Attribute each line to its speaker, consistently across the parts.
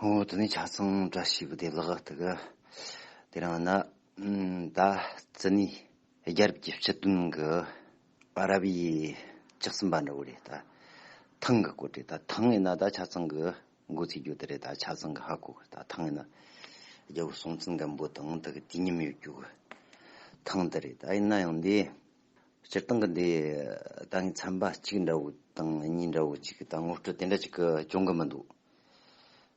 Speaker 1: ཧོ་དེ་ནས་ཆ་ཚང་བཀྲ་ཤིས་བདེ་ལགས་ལྟ་གི། དེ་རིང་ནི་ད་ཙི་ནའི་རྒྱལ་རབས་ཀྱི་སྤྱི་དོན་གྱི་ཨ་རབ་ཡའི་ལྕགས་ཟིན་པ་འདྲ་བོ་རེད་ད། ཐང་གི་སྐོར་དེ་ད་ཐང་ངེ་ན་ད་ཆ་ཚང་གི་མགོ་ཚིག་རྒྱུ་དེ་རེད་ད་ཆ་ཚང་གི་ཧ་གོ་གི་ད་ཐང་ངེ་ན་རྒྱལ་བོ་སྲོང་བཙན་སྒམ་པོ་དང་ད་གི་དུས་མཉམ་ཡོད་རྒྱུ་གི་ཐང་དེ་རེད་ད་ཡིན་ན་ཡང་འདི་སྤྱིར་བཏང་གི་འདི་ད་ངའི་ཚན་པ་གཅིག་འདྲ་བོ་དང་གཉིས་འདྲ་བོ་གཅིག་གི་ད་ངོ་སྤྲོད་དེ་འདྲ་གཅིག་གི་བྱུང་གི་མི་འདུག།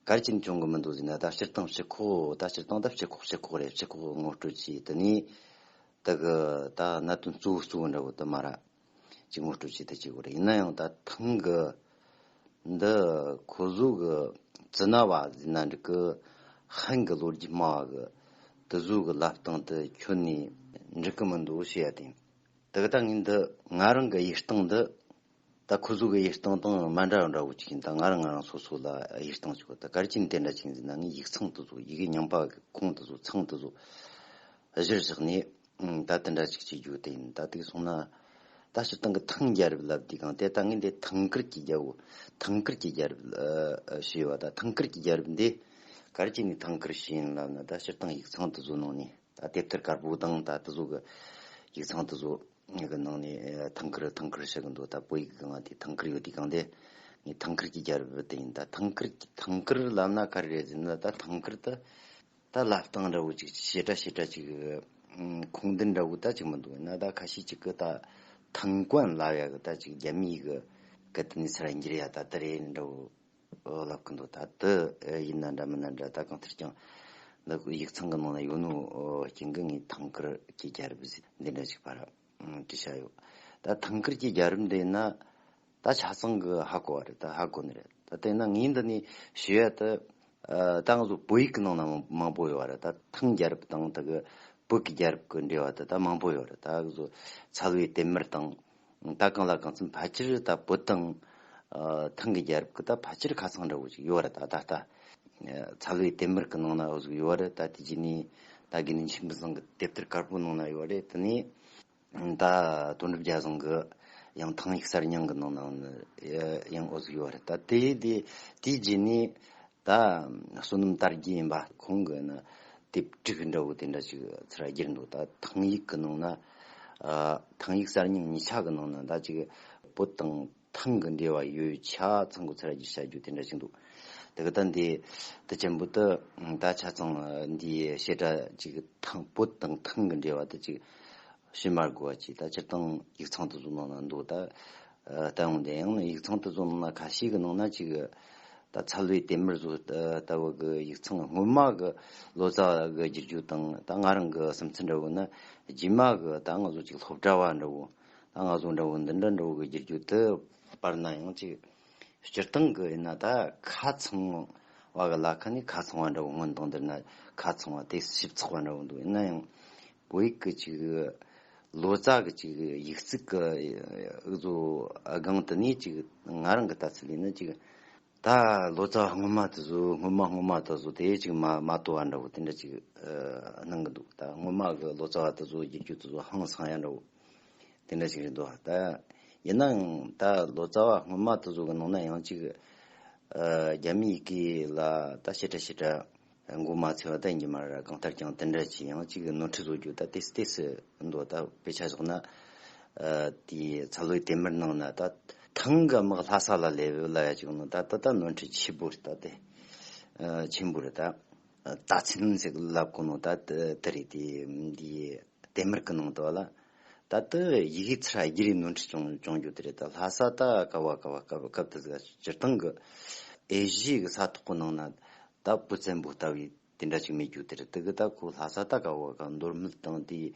Speaker 1: གལ་ཆེན་འབྱུང་གི་མི་འདུག་ཟེར་ན་ཟླ་ཕྱིར་བཏང་བྱེད་ཁོག་ཟླ་ཕྱིར་བཏང་སྟབས་བྱེད་ཁོག་བྱེད་ཁོག་རེད་བྱེད་ཁོག་ངོ་སྤྲོད་ཀྱིས་དེ་ནས་དེ་གི་ད་གནད་དོན་གཙོ་བོ་གཙོ་བོ་འདྲ་བོ་དུ་མ་ར་གཅིག་ངོ་སྤྲོད་ཀྱིས་དེ་བྱེད་ཁོག་རེད་ཡིན་ན་ཡང་ད་ཐེངས་ཀྱི་འདི་ཁོ་བཟོ་གི་ཙི་ན་བ་ཟེར་ན་འགྲིག་གི་ཧན་གི་ལོ་རྒྱུས་སྨྲ་བ་གི་དུ་བཟོ་གི་ལབ་སྟངས་དེ་ཁྱོན་ནས་འགྲིག་གི་མི་འདུག་ཞེས་ཡ་དེ་གི་ད་ངས་འདི་ང་རང་གི་ཡིག་སྟངས་འདི། ད་ཁོ་ཚོ་གི་གཡེར་སྟངས་དང་མ་འདྲ་བ་འདྲ་བོ་ཅིག་ཡིན་ད་ང་རང་ང་རང་སོ་སོ་ལ་གཡེར་སྟངས་ཅིག་གོ་ད་གར་སྐྱིན་དེ་འདྲ་ཅིག་འཛིན་ན་ངས་ཡིག་ཚང་དེ་ཚོ་ཡི་གེ་ཉམས་པ་གི་ཁུངས་དེ་ཚོ་ཚང་དེ་ཚོ་གཞིར་བཞག་ནས་ད་དེ་འདྲ་ཅིག་བྱེད་རྒྱུ་དེ་ཡིན་ད་དེ་ག་སོང་ན་ད་སྤྱིར་བཏང་གི་ཐང་རྒྱལ་རབས་ལབ་དུས་གང་དེ་ད་ངས་འདི་ཐང་ཀིར་གྱི་རྒྱལ་པོ་ཐང་ཀིར་གྱི་རྒྱལ་རབས་ཞེས་བ་ད་ཐང་ཀིར་གྱི་རྒྱལ་རབས་འདི་གར་སྐྱིན་ནས་ཐང་ཀིར་ཞེས་ཡིན་ལབ་ན་ད་སྤྱིར་བཏང་ཡིག་ཚང་དེ་ཚོ་ནང་ནས་ད་དེབ་ཐེར་དཀར་པོ་དང་ད་དེ་ཚོ་གི་ཡིག་ཚང་དེ་ཚོ། ངའི་གི་ནང་ནས་ཐང་ཁིར་ཐང་ཁིར་བཤད་གི་འདུག་ད་བོད་ཡིག་གི་ནང་དེ་ཐང་ཁིར་ཡོད་དུས་གང་དེ་ངའི་ཐང་ཁིར་གྱི་རྒྱ་རི་བོད་དེ་ཡིན་ད་ཐང་ཁིར་ཐང་ཁིར་ལ་ན་ག་རེ་རེད་ཟེར་ན་ད་ཐང་ཁིར་ད་ད་ལབ་སྟངས་འདྲ་བོ་ཅིག་བྱེ་བྲ་བྱེ་བྲ་ཅིག་ཁུངས་ལྡན་འདྲ་བོ་ད་ཅིག་མི་འདུག་ཡིན་ན་ད་ཁ་ཤས་ཅིག་གི་ད་ཐང་ཀོན་ལབ་ཡ་གི་ད་ཅིག་རྒྱ་མི་ཡིག་གི་གི་དེ་ནས་ཚིག་ར་འགྱུར་ཡ་ད་དི་རེད་འདྲ་བོ། ལབ་གི་འདུག་ད་འདི་ཡིན་ན་འདྲ་མིན་ན་འདྲ་ད་གང་ལྟར་ཀྱང་འདི་ཡིག་ཚང་གི་ནང་ན་ཡོད་ནོ་རྐྱེན་གི་ངའི་ཐང་ཀར་གྱི་རྒྱལ་རབས་གཟིགས་འདི་འདྲ་ཞིག་པར་གྱི་བྱ་ཡོད་ད་ཐང་ཀར་གྱི་རྒྱལ་རབས་འདི་ཡིན་ན་ད་ཆ་ཚང་གི་ཧ་གོ་བ་རེད་ད་ཧ་གོ་ནི་རེད་ད་དེ་ན་ངའི་འདི་ནས་ཞུ་ཡ་ད་ད་ང་ཚོ་བོད་ཡིག་གི་ནང་ན་མང་པོ་ཡོད་བ་རེད་ད་ཐང་རྒྱལ་རབས་དང་ད་གི་བོད་ཀྱི་རྒྱལ་རབས་གི་འབྲེལ་བ་ད་ད་མང་པོ་ཡོད་རེད་ད་གི་ཚོ་ཚལ་བའི་དེབ་མེར་དང་ད་གང་ལ་གང་འཚམས་ཕལ་ཆེར་ད་བོད་དང་ཐང་གི་རྒྱལ་རབས་ཀྱི་ད་ཕལ་ཆེར་ཁ་ཚང་འདྲ་བོ་ཞིག་ཡོད་ར་ད་ད་ལྟ་ཚ་བའི་དེབ་མར་གི་ནང་ན་ཡོད་ར་ད་དེ་རྗེས་ནས་ད་དགེ་འདུན་ཆེན་པོ་བཟང་གི་དེབ་ཐེར་དཀར་པོའི་ནང་ན་ཡོད་ར་དེ་ནས་ད་དོན་གྲུབ་རྒྱལ་བཟང་གི་ཡང་ཐང་ཡིག་གསར་རྙིང་གི་ནང་ན་ཡང་ཡོད་ར་ད་དེ་དེའི་རྗེས་ནས་ད་བསོད་ནམས་དར་རྒྱས་ཡིན་པ་ཁོང་གི་ནི་དེབ་དཀྲིགས་འདྲ་བོ་དེ་འདྲ་ཅིག་ཚུར་བསྒྱུར་འདུག་ད་ཐང་ཡིག་གི་ནང་ན། ཐང་ཡིག་གསར་རྙིང་ཉིས་ཆ་གི་ནང་ན་ད་ཅིག་བོད་དང་ཐང་གི་འབྲེལ་བ་ཡོད་ཆ་ཚང་གི་ཚུར་བསྒྱུར་བྱ་རྒྱུ་དེ་འདྲ་ཅིག་འདུག་དེ་ག་ད་འདི་དེ་ཅན་པོ་ཏི་ད་ཆ་ཚང་འདིའི་བཤད་གྲྭ་ཅིག་ཐང་བོད་དང་ཐང་གི་འབྲེལ་བ་ད་ཅིག་ཕྱི་མར་དགོས་པ་གཅིག་ད་སྤྱིར་བཏང་ཡིག་ཚང་དེ་ཚོ་ནང་ན་འདུག་ད། ལྟ་ཡོང་དེ་ཡང་ཡིག་ཚང་དེ་ཚོ་ནང་ན་ག་ཤེད་ཀྱི་ནང་ན་གཅིག། ད་ཚ་ལུའི་དེ་མིར་ཚོ་ལྟ་བུ་གི་ཡིག་ཚང་གི་སྔོན་མ་གི་ལོ་ཙཱ་གི་བསྒྱུར་རྒྱུ་དང་ད་ང་རང་གི་སེམས་ཚོར་འདྲ་བོ་ནི། རྗེས་མ་གི་ད་ང་ཚོ་གཅིག་སློབ་གྲྭ་བ་འདྲ་བོ། ད་ང་ཚོ་འདྲ་བོ་འདི་འདྲ་འདྲ་བོ་གི་བསྒྱུར་རྒྱུ་དེ། པར་ན་ཡང་གཅིག། སྤྱིར་བཏང་གི་ཡིན་ན་ད་ཁ་ཚང་བ་གི་ལ་ཁ་ནི་ཁ་ཚང་བ་འདྲ་བོ་སྔོན་བཏང་འདིར་ན་ཁ་ཚང་བ་དེ་ཞིབ་ཚགས་པ་འདྲ་བོ་འདུག་ཡིན་ན་ཡང། བོད་ཀྱི་ཅིག། ལོ་ཙཱ་གི་ཅིག། ཡིག་རྩིས་ཀྱི་གཙོ་བོའི་སྒང་དུ་ནས་ཅིག། ང་རང་གི་ལྟ་ཚུལ་ལས་ནི་ཅིག། ད་ལོ་ཙཱ་བ་སྔོན་མ་དེ་ཚོ་སྔོན་མ་སྔོན་མ་དེ་ཚོ་དེ་ཅིག་མ་མ་ཏོ་བ་འདྲ་བོ་དེ་འདྲ་ཅིག་སྣང་གི་འདུག་ད་སྔོན་མ་གི་ལོ་ཙཱ་བ་དེ་ཚོ་རྒྱུན་སྐྱོད་དེ་ཚོ་ཧང་སང་ཡ་འདྲ་བོ་དེ་འདྲ་ཅིག་རེད་འདུག་ད། ཡིན་ནའང་ད་ལོ་ཙཱ་བ་སྔོན་མ་དེ་ཚོ་གི་ནང་ན་ཡང་ཅིག། རྒྱ་མི་ཡི་གེ་ལ་ད་བྱེད་འདྲ་བྱེད་འདྲ། མགོ་མ་ཚོས་བལྟ་ཉི་མ་ར་གང་ལྟར་ཀྱང་དེ་འདྲ་ཅི་ཡང་གཅིག་གི་ནོར་འཁྲུལ་བཟོ་རྒྱུ་ད་དེས་དེས་འདོད་ད་དཔེ་ཆ་བཞག་ན། དེའི་ཚ་ལོས་དེ་མེར་གནང་ན་ད། ཐང་ག་དམག་ལྷ་ས་ལ་ལས་བོད་ལ་ཡ་བཅུག་ན་ད་ད་ད་ནོར་འཁྲུལ་ཆེན་པོ་རེད་ད་དེ། ཆེན་པོ་རེད་ད། ད་ཚིག་ལབ་དགོས་ནོ་ད་དེ་རེད་དེ། ལྡེ་མིར་ཀི་ནང་དུ་བ་ལ། ད་ཏི་ཡི་གིས་ཚིར་ཧ་ཡི་རིགས་ནོར་འཁྲི་ཅོང་ཅོང་རྒྱུ་དི་རེད་ད་ལྷ་ས་ད་ཀ་བ་ཀ་བ་སྐབས་སྐབས་དི་ཟིག་ད་སྤྱིར་བཏང་གི་ཨེ་གཞི་གི་ས་ཐོག་གི་ནང་ན་ད་བུ་བཙན་པོ་ལྟ་བུའི་དེ་འདྲ་ཅིག་མེད་རྒྱུ་དི་རེད་དི་གི་ད་ཁོ་ལྷ་ས་ད་ཀ་བ་ཀ་མདོར་སྨིད་དང་དེའི་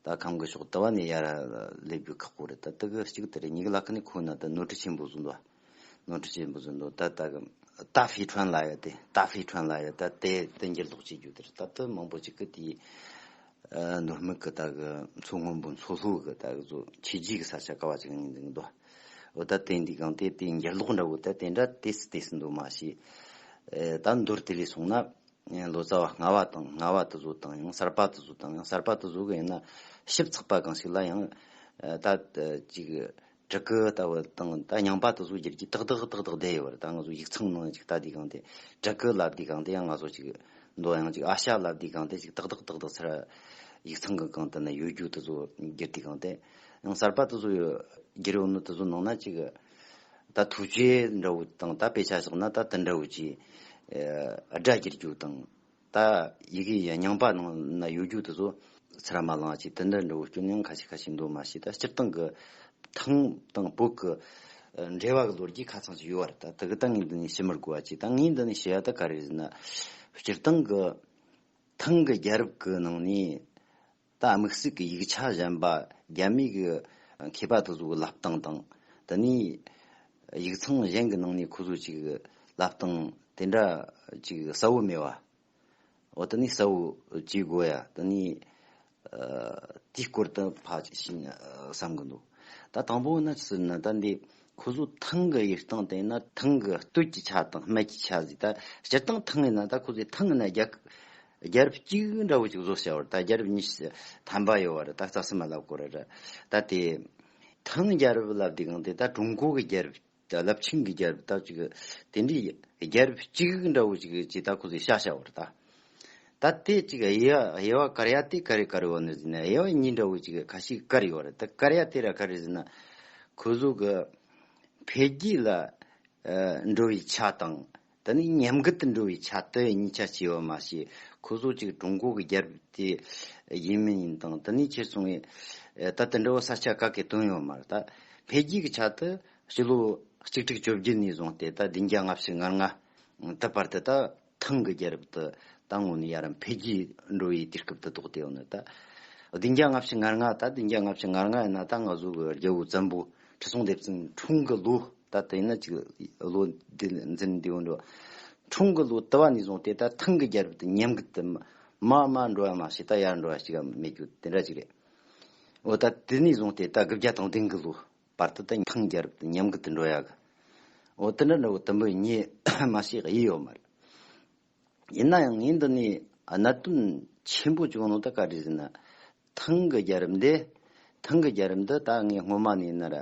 Speaker 1: ད་ཁམས་གི་ཕྱོགས་དི་བ་ནས་ཡར་སླེབས་རྒྱུ་ཁག་པོ་རེད་ད་དི་གི་གཅིག་དི་རེད་ཉིག་ལ་ཀི་ནི་ཁོ་ན་ད་ནོར་འཁྲི་ཆེན་པོ་བཟུང་དི་བ། ནོར་འཁྲུལ་ཆེན་པོ་ཟིན་འདུག་ད་ལྟ་གི་ཏཱ་ཧྥེ་ཁྲོན་ལ་ཡོད་དེ་ཏཱ་ཧྥེ་ཁྲོན་ལ་ཡོད་ད་ལྟའི་བསྟན་འགྱུར་ལྡོག་བྱེད་རྒྱུ་དེར་སྟབས་བསྟུན་མང་པོ་བྱེད་ཀི་དེའི་ནོར་དམིགས་ཀི་ད་གི་མཚོ་སྔོན་པོའི་མཚོ་ལྷོ་གི་ད་གི་ཟོ་ཆེ་རྗེས་ཀི་ས་ཆ་ཀ་བ་ཅིག་ཡིན་ཟིན་གི་འདུག་འོ་ད་དེ་འདི་གང་དེ་བསྟན་འགྱུར་ལྡོག་འདྲ་བོ་ད་དེ་འདྲ་དེ་སི་དེ་སི་འདུག་མ་ཤེས་ད་མདོར་དེ་ལས་སོང་ན་ལོ་ཙཱ་བ་སྔ་བ་དང་སྔ་བ་དུ་ཟོ་དང་ཡང་གསར་པ་དུ་ཟོ་དང་ཡང་གསར་པ་དུ་ཟོ་གི་ཡིན་ན་ཞིབ་ཚགས་པ་གང་ཞིག་ལ་ཡང་ད་ཅིག་བྲག་གི་ལྟ་བུ་དང་ད་ཉང་པ་དུ་སོགས་བརྒྱད་ཀྱིས་ཏག་ཏག་ཏག་ཏག་བསྡད་ཡོད་པར་ད་ང་ཚོ་ཡིག་ཚང་ནང་ཅིག་ལྟ་དུས་གང་དེ་བྲག་གི་ལབ་དུས་གང་དེ་ཡང་ང་ཚོ་ཅིག་མདོ་ཡང་ཅིག་ཨ་ཤ་ལབ་དུས་གང་དེ་ཅིག་ཏག་ཏག་ཏག་ཏག་ཚེ་ར་ཡིག་ཚང་གི་གང་དུ་ན་ཡོད་རྒྱུ་དུ་སོགས་བརྒྱད་དུས་གང་དེ་ཡང་གསར་པ་དུ་སོགས་ཡོད་བརྒྱད་རེའུ་མིག་དུ་སོགས་ནང་ན་ཅིག་ད་ཐུགས་རྗེ་འདྲ་བོ་དང་ད་དཔེ་ཆ་བཞག་ན་ད་དུ་འདྲ་བོ་ཅིག་སྒྲ་བརྒྱད་རྒྱུ་དང། ད་ཡི་གེ་ཡི་རྙིང་པ་ནང་ན་ཡོད་རྒྱུ་དེ་ཚོ་ཚེ་ར་མ་ལང་ཅིག་དེ་འདྲ་འདྲ་བོ་སྐྱོན་ཡང་ཁ་ཤས་ཁ་ཤས་འདུག་མ་ཤེས་ད་སྤྱིར་བཏང་གི་ཐང་དང་བོད་ཀྱི་འབྲེལ་བ་གི་ལོ་རྒྱུས་ཁ་ཚང་ཞིག་ཡོད་བར་ད་དེ་གི་ད་ངས་འདི་ནས་ཞུ་མི་དགོས་བ་ཅིག་ད་ངས་འདི་ནས་ཞུ་ཡ་ད་ག་རེ་ཟེར་ན་སྤྱིར་བཏང་གི་ཐང་གི་རྒྱལ་རབས་ཀྱི་ནང་ནས་རྟ་རྨིག་སྲིག་གི་ཡིག་ཆ་གཞན་པ་རྒྱ་མིའི་གི་མཁས་པ་དེ་ཚོ་གི་ལབ་སྟངས་དང། དེ་ནས་ཡིག་ཚང་གཞན་གི་ནང་ནས་ཁོ་ཚོ་ཅིག་གི་ལབ་སྟངས་དེ་འདྲ་ཅིག་གསལ་བོ་མེད་བ། འོ་དེ་ནས་གསལ་བོ་བྱེད་དགོས་ཡ་དེ་ནས་དེའི་སྐོར་དུ་ཕ་ཞིག་བསམ་གི་འདུག་ད་དང་པོ་ན་ཟེར་ན་ད་འདི་ཁོ་ཚོ་ཐང་གི་ཡིག་སྟངས་དེ་ན་ཐང་གི་སྟོད་ཀྱི་ཆ་དང་སྨད་ཀྱི་ཆ་ཟིག་ད་སྤྱིར་བཏང་ཐང་ཡིན་ན་ད་ཁོ་ཚོ་ཐང་ཡིན་ན་རྒྱ། རྒྱལ་རབས་གཅིག་འདྲ་བོ་ཅིག་བཟོ་བྱ་བར་ད་རྒྱལ་རབས་གཉིས་ཐམ་པ་ཡོད་བར་ད་རྩ་སེ་མ་ལབ་དགོས་ར་ད་དེ་ཐང་རྒྱལ་རབས་ལབ་དེ་གང་དེ་ད་ཀྲུང་གོ་གི་རྒྱལ་རབས་ལབ་ཆིང་གི་རྒྱལ་རབས་ད་ཅིག་དེ་འདྲའི་རྒྱལ་རབས་གཅིག་འདྲ་བོ་ཅིག་ཅིག་ད་ཁོ་ཚོས་བཤའ་བྱ་བར་ད་ད་དེ་ཅིག་ཨེ་ཡ་ཨེ་ཡ་ཀར་ཡ་དེ་ཀར་རེ་ཀར་ཡོ་ནི་ཟེར་ན་ཨེ་ཡ་གཉིས་འདྲ་བོ་ཅིག་ཁ་ཤིག་ཀར་ཡོད་ར་ད་ཀར་ཡ་དེ་ར་ཀར་རེ་ཟེར་ན་ཁོ་ཚོ་གི་འཕེལ་རྒྱས་ལ་འགྲོ་བའི་ཆ་དང་འདི་ནི་ཉམས་རྒུད་དུ་འགྲོ་བའི་ཆ་དོན་གཉིས་ཆ་སྐྱེ་བ་མ་ཤེས་ཁོ་ཟོག་ཅིག་ཀྲུང་གོ་གི་རྒྱལ་བུ་དེ་ཡིན་མིན་ཡིན་དང་དེ་ནས་ཁྱེད་ཚང་གིས་ད་དེ་འདྲ་བོ་ས་ཆ་ག་གེ་དོན་ཡོད་མ་རེད་ད། འཕེལ་རྒྱས་ཀྱི་ཆ་དུ་སྤྱི་ལོ་གཅིག་ཁྲི་བཅོ་བརྒྱད་ནས་བཟུང་སྟེ་ད་བདུན་བརྒྱ་ལྔ་བཅུ་ང་ལྔ་དུ་བར་དུ་ད་ཐང་གི་རྒྱལ་བུ་དེ་ད་དངོས་ནས་ཡ་རབས་འཕེལ་རྒྱས་འགྲོ་བའི་དུས་སྐབས་དུ་གཏོགས་དེ་ཡང་ནི་ད་བདུན་བརྒྱ་ལྔ་བཅུ་ང་ལྔ་ད་བདུན་བརྒྱ་ལྔ་བཅུ་ང་ལྔ་ཡིན་ན་ད་ང་ཟོག་གི་རྒྱལ་བུ་བཙན་པོ་ཁྲི་སྲོང་ལྡེ་བཙན་འཁྲུངས་གི་ལོ་ད་ལྟ་ཡིན་ན་གཅིག་ལོ་འདི་འཛིན་བདེ་བོ་འགྲོ། འཁྲུངས་གི་ལོ་དུ་བ་ནས་བཟུང་དེ་ལྟར་ཐང་གི་རྒྱལ་རབས་དེ་ཉམས་རྒུད་དུ་མ་དམའ་འགྲོ་ཡང་མ་ཤི་ད་ཡར་འགྲོ་བ་ཞིག་གམ་མེད་རྒྱུ་དེ་འདྲ་ཅིག་རེད། འོ་ད་དེ་ནས་བཟུང་དེ་ད་དགུ་བརྒྱ་དང་བདུན་གི་ལོ་བར་དུ་ད་ཐང་རྒྱལ་རབས་དེ་ཉམས་རྒུད་དུ་འགྲོ་ཡ་གི། འོ་དེ་འདྲ་འདྲ་བོ་དུམ་བུ་གཉིས་མ་ཤི་ཡི་ཡོད་མ་རེད། ཡིན་ན་ཡང་ངའི་འདི་ནས་གནད་དོན་ཆེན་པོ་བྱུང་ནོ་ད་ག་རེ་ཟེར་ན། ཐང་གི་རྒྱལ་རབས་འདི། ཐང་གི་རྒྱལ་རབས་འདི་ད་ངས་སྔོན་མ་ནས་ནར་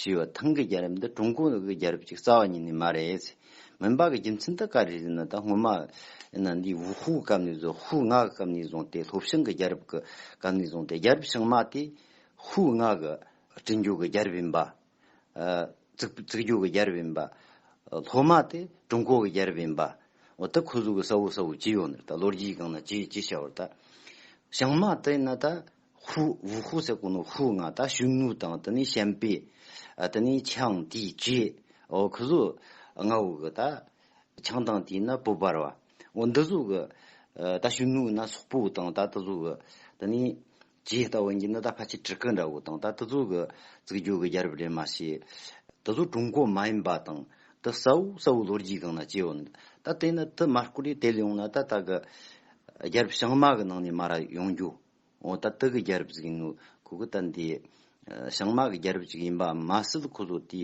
Speaker 1: ཞུས་པ་ཐང་གི་རྒྱལ་རབས་འདི་ཀྲུང་གོ་གི་རྒྱལ་རབས་ཀྱི་རྩ་བ་ཉིད་ནས་མ་རེད། མུན་པ་གི་རྒྱུ་མཚན་ད་ག་རེ་ཟེར་ན་ད་སྔོན་མ་ནས་འདི་ཝུ་ཧུའུ་སྐབས་ནས་བཟུང་ཧུའུ་ང་གི་སྐབས་ནས་བཟུང་སྟེ་ལྷོ་བྱང་གི་རྒྱལ་རབས་ཀྱི་སྐབས་ནས་བཟུང་སྟེ་རྒྱལ་རབས་བྱང་མ་དེ་ཧུའུ་ང་གི་བྲིན་རྒྱུག་གི་རྒྱལ་རབས་ཡིན་པ། རྩིག་རྒྱུག་གི་རྒྱལ་རབས་ཡིན་པ། ལྷོ་མ་དེ་ཀྲུང་གོ་གི་རྒྱལ་རབས་ཡིན་པ། འོ་ད་ཁོ་ཚོ་གི་ས་བོ་ས་བོ་ཇི་ཡོད་ནི་ད་ལོ་རྒྱུས་གང་ན་ཇི་ཇི་བྱ་བར་ད། བྱང་མ་དེ་ན་ད་ཧུ་ཝུ་ཧུ་ཟེར་གོ་ནོ་ཧུ་ང་ད་གཞུ་ནུ་དང་དེ་ནི་ཤན་པེ། དེ་ནི་ཆང་དེ་ཇི། འོ་ཁོ་ཚོ་ང་བོ་གི་ད། ཆང་དང་དེ་ན་པོ་བར་བ། འོ་འདི་ཚོ་གི་ད་གཞུ་ནུ་ན་སོག་པོ་དང་ད་དེ་ཚོ་གི་དེ་ནི་ཇི་ལྟ་བུ་ཡིན་ན་ད་ཕ་ཆེ་བྲི་ཁུ་འདྲ་བོ་དང་ད་དེ་ཚོ་གི་རྩིག་རྒྱུག་གི་རྒྱལ་རབས་རེད་མ་ཤེས། དེ་ཚོ་ཀྲུང་གོ་མ་ཡིན་པ་དང་དེ་གསལ་བོ་གསལ་བོ་ལོ་རྒྱུས་སྒང་ན་སྐྱེས་བ་འདུག་ད་དེ་ནི་དེ་མ་བསྐུར་ཡས་དེ་ལས་འོང་ན་ད་ད་གི་རྒྱལ་རབས་བྱང་མ་གི་ནང་ནས་མ་ར་ཡོང་རྒྱུ་འོ་ད་དེ་གི་རྒྱལ་རབས་ཟིག་ཡིན་ནོ་ཁོ་གི་ད་འདི་བྱང་མ་གི་རྒྱལ་རབས་ཅིག་ཡིན་པ་མ་ཟད་ཁོ་ཚོ་དེ་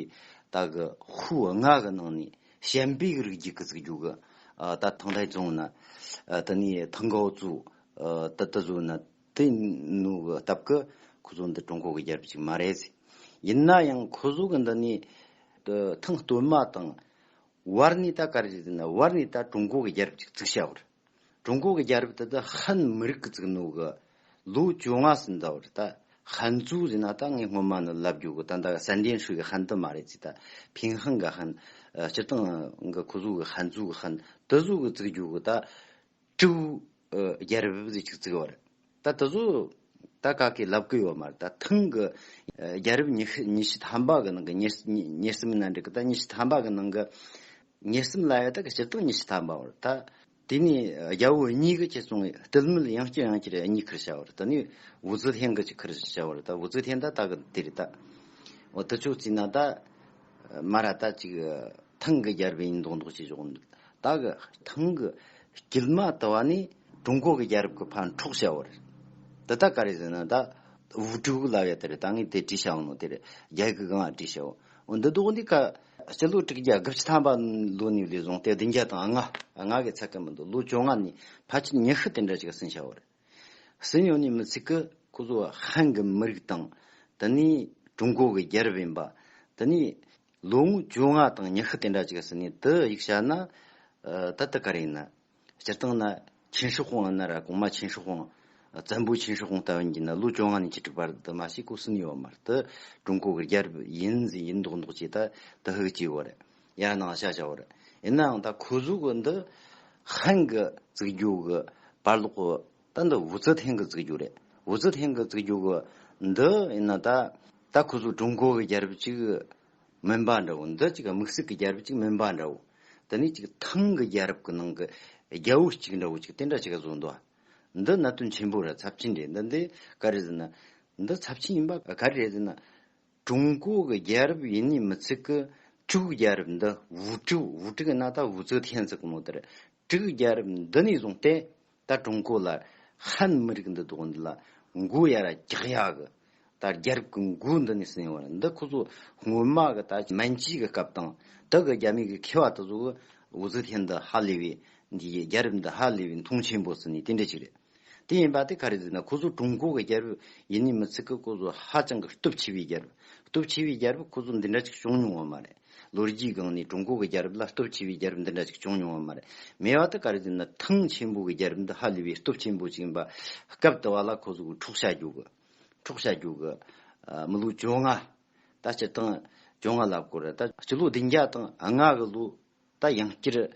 Speaker 1: ད་གི་ཧུའུ་ཨ་ང་གི་ནང་ནས་ཞན་པའི་རིགས་རྒྱུད་ཀྱི་རྩིག་རྒྱུག་གི་ད་ཐང་ལྷའི་བཙོང་ན་དེ་ནས་ཐང་གའོ་ཙུའུ་དེ་དེ་ཚོ་ནི་དེ་ནུ་གི་སྟབས་ཀི་ཁོ་ཚོ་འདི་ཀྲུང་གོ་གི་རྒྱལ་རབས་ཅིག་མ་རེད། ཡིན་ན་ཡང་ཁོ་ཚོ་གི་འདི་ནི་ཐང་སྟོད་མ་དང། བར་ནི་ད་ག་རེ་རེད་ན་བར་ནི་ད་ཀྲུང་གོ་གི་རྒྱལ་རབས་ཅིག་བརྩིགས་བྱ་བར། ཀྲུང་གོ་གི་རྒྱལ་རབས་དེ་ད་ཧན་མི་རིགས་ཀི་བརྩིགས་ནུ་གི་ལོ་བཅོ་ལྔ་ཟིན་ད་བར་ད་ཧན་བཙུགས་རེད་ན་ད་ངས་སྔོན་མ་ནི་ལབ་རྒྱུ་གི་ད་འདའ་གི་སན་ཏན་ཧྲི་གི་ཧན་དེ་མ་རེད་ཅེ་ད་ཕིང་ཧན་གི་ཧན། སྤྱིར་བཏང་གི་ཁོ་ཚོ་གི་ཧན་བཙུགས་གི་ཧན་དེ་བཟོ་གི་བརྩིགས་རྒྱུ་གི་ད་སྤྲེའུ། རྒྱལ་རབས་བཞི་ཆིག་བརྩེགས་བར། ད་དུ་ཟོ། ད་ག་གི་ལབ་གུ་ཡོད་མར་ད་ཐང་གི། རྒྱལ་རབས་ཉི་ཤུ་ཉི་ཤུ་ཐམ་པ་གི་ནང་གི་ཉེར་གསུམ་ན་འགྲིག་གི་ད་ཉི་ཤུ་ཐམ་པ་གི་ནང་གི། ཉེར་གསུམ་ལ་ཡོད་ད་གི་སྤྱིར་བཏང་ཉི་ཤུ་ཐམ་པ་བར་ད། དེ་ནས་རྒྱལ་བོ་གཉིས་ཀྱི་ཁྱེད་ཚང་གི་སྟོད་མི་ལ་ཡང་སྐྱིད་ཡང་སྐྱིད་རེད་གཉིས་ཁུར་བྱ་བར་ད་ནི་བུ་རྫི་ཐན་གི་ཅིག་ཁུར་བྱ་བར་ད་བུ་རྫི་ཐན་ད་ད་གི་དེ་རེད་ད། འོ་དུ་ཅོག་ཙི་ན་ད། མ་ར་ད་ཅིག། ཐང་གི་རྒྱལ་རབས་ཡིན་མདོག་མདོག་བྱེད་ཆོག་གི་འདུག་ད་གི་ཐང་གི་དཀྱིལ་མ་དུ་བ་ནི་ཀྲུང་གོ་གི་རྒྱལ་རབས་ཀྱི་ཕ་འཕྲོག་བྱ་བ་རེད། འདི་ད་ག་རེད་ཟེར་ན་ད་ཝུའུ་ཀྲུའུ་ལ་ཡ་དེ་རེད་ད་ངས་དེ་བྲིས་བྱ་བ་ནོ་དེ་རེད་རྒྱལ་ཁའི་གང་བ་བྲིས་བྱ་བ། འོ་འདི་དོགས་འདི་ག་སྤྱི་ལོ་དྲུག་བརྒྱ་དགུ་བཅུ་ཐམ་པ་ལོ་ནས་ལས་བཟུང་སྟེ་བདུན་བརྒྱ་དང་ལྔ་ལྔ་གི་ཚད་ཀྱི་མི་འདུག་ལོ་བཅོ་ལྔ་ནས་ཕ་ཆུ་ཉི་ཤུ་དེ་འདྲ་ཅིག་ཟིན་བྱ་བ་རེད། སྲིད་ཉོ་ནི་མི་ཚིག་གི་སྐུ་གཟུགས་བ་ཧན་གི་མི་རིགས་དང་དེ་ནི་ཀྲུང་གོ་གི་རྒྱལ་རབས་ཡིན་པ་དེ་ནི་ལོ་ངོ་བཅོ་ལྔ་དང་ཉི་ཤུ་དེ་འདྲ་ཅིག་ཟིན་ནས་དེ་ཡིག་བྱ་ན་ད་ད་ག་རེ་ཡིན། སྤྱིར་བཏང་ན་ཆིན་ཧྲི་ཧོང་ཨ་ན་ར་གོང་མ་ཆིན་ཧྲི་ཧོང་བཙན་པོ་ཆིན་ཧྲི་ཧོང་རྟ་བོན་གྱིས་ན་ལོ་བཅོ་ལྔ་ནས་བཅུ་དྲུག་བར་དུ་མ་ཞིག་གོ་སྲིད་ནུས་བ་མ་རེད་དེ་ཀྲུང་གོ་གི་རྒྱལ་རབས་ཡིན་ཟིན་ཡིན་མདོག་མདོག་བྱས་ད་དེ་ཧིག་བྱས་བ་རེད། ཡང་ནང་བཤད་བྱ་བར། ཡིན་ནའང་ད་ཁོ་གཟུགས་གི་འདི། ཧན་གི་རྩིག་རྒྱུག་གི་བར་ལོག་གི། ད་འདི་ཝུ་ཙི་ཐན་གི་རྩིག་རྒྱུག་རེད། ཝུ་ཙི་ཐན་གི་རྩིག་རྒྱུག་གི་འདི། ཡིན་ན་ད། ད་ཁོ་གཟུགས་ཀྲུང་གོ་གི་རྒྱལ་རབས་ཅིག། མིན་པ་འདྲ་བོ། འདི་ཅིག་དམིགས་བསལ་གི་རྒྱལ་རབས་ཅིག་མིན་པ་འདྲ་བོ། འདི་ནི་ཅིག་ཐང་གི་རྒྱལ་རབས་ཀི་ནང་གི། རྒྱལ་བོ་ཅིག་འདྲ་བོ་ཅིག་དེ་འདྲ་ཅིག་བཟོ་འདུག། འདི་གནད་དོན་ཆེན་པོ་རེད་ཚབས་ཆེན་རེད་འདི་འདི་ག་རེ་ཟེར་ན། འདི་ཚབས་ཆེན་ཡིན་པ་ག་རེ་རེད་ཟེར་ན། ཀྲུང་གོ་གི་རྒྱལ་རབས་ཡིན་ནི་མི་ཚིག་གི། དྲུག་གི་རྒྱལ་རབས་འདི་བུ་ཕྲུག་བུ་ཕྲུག་གི་ན་ད་བུ་ཚོའི་ཐན་ཟིག་གི་མོ་དེར། དྲུག་གི་རྒྱལ་རབས་འདི་ནས་བཟུང་སྟེ། ད་ཀྲུང་གོ་ལ། ཧན་མི་རིགས་འདི་བདོག་འདི་ལ། མགོ་ཡ་ར་རྒྱག་ཡ་གི། ད་རྒྱལ་རབས་ཀི་མགོ་འདི་ནས་སིན་བར་འདི་ཁོ་ཚོ་སྔོན་མ་གི་ད་མན་སྐྱིད་གི་སྐབས་དང། དི་གི་རྒྱ་མི་གི་ཁེ་བ་དི་ཚོ་གི་བུ་ཚོའི་ཐན་འདི་ཧ་ལས་བས། འདི་ཡི་རྒྱལ་རབས་འདི་ཧ་ལས་བས་མཐོང་ཆེན་པོ་སིན་ནི་དེ་འདྲ་ཅིག་རེད། དེ་ཡིན་པ་དེ་ག་རེ་ཟེར་ན་ཁོ་ཚོ་ཀྲུང་གོ་གི་རྒྱལ་པོ་ཡིན་ནི་མི་ཚིག་གི་ཁོ་ཚོ་ཧ་ཅང་གི་སྟོབས་ཆེ་བའི་རྒྱལ་པོ་སྟོབས་ཆེ་བའི་རྒྱལ་པོ་ཁོ་ཚོ་འདི་འདྲ་ཅིག་བྱུང་མྱོང་བ་མ་རེད་ལོ་རྒྱུས་སྒང་ནས་ཀྲུང་གོ་གི་རྒྱལ་རབས་ལ་སྟོབས་ཆེ་བའི་རྒྱལ་རབས་འདི་འདྲ་ཅིག་བྱུང་མྱོང་བ་མ་རེད་མེད་པ་དེ་ག་རེ་ཟེར་ན་ཐང་ཆེན་པོ་གི་རྒྱལ་རབས་འདི་ཧ་ལས་པའི་སྟོབས་ཆེན་པོ་ཅིག་ཡིན་པ་སྐབས་དེ་བ་ལ་ཁོ་ཚོ་གི་འཁྲུག་ཆ་རྒྱུག་གི་འཁྲུག་ཆ་རྒྱུག་གི་མི་ལོ་བཅོ་ལྔ་ད་སྤྱི་སྟངས་བཅོ་ལྔ་ལབ་དགོས་རེད་ད་སྤྱི་ལོ་བདུན་བརྒྱ་དང་ལྔ་གི་ལོ་ད་ཡང་སྐྱིད།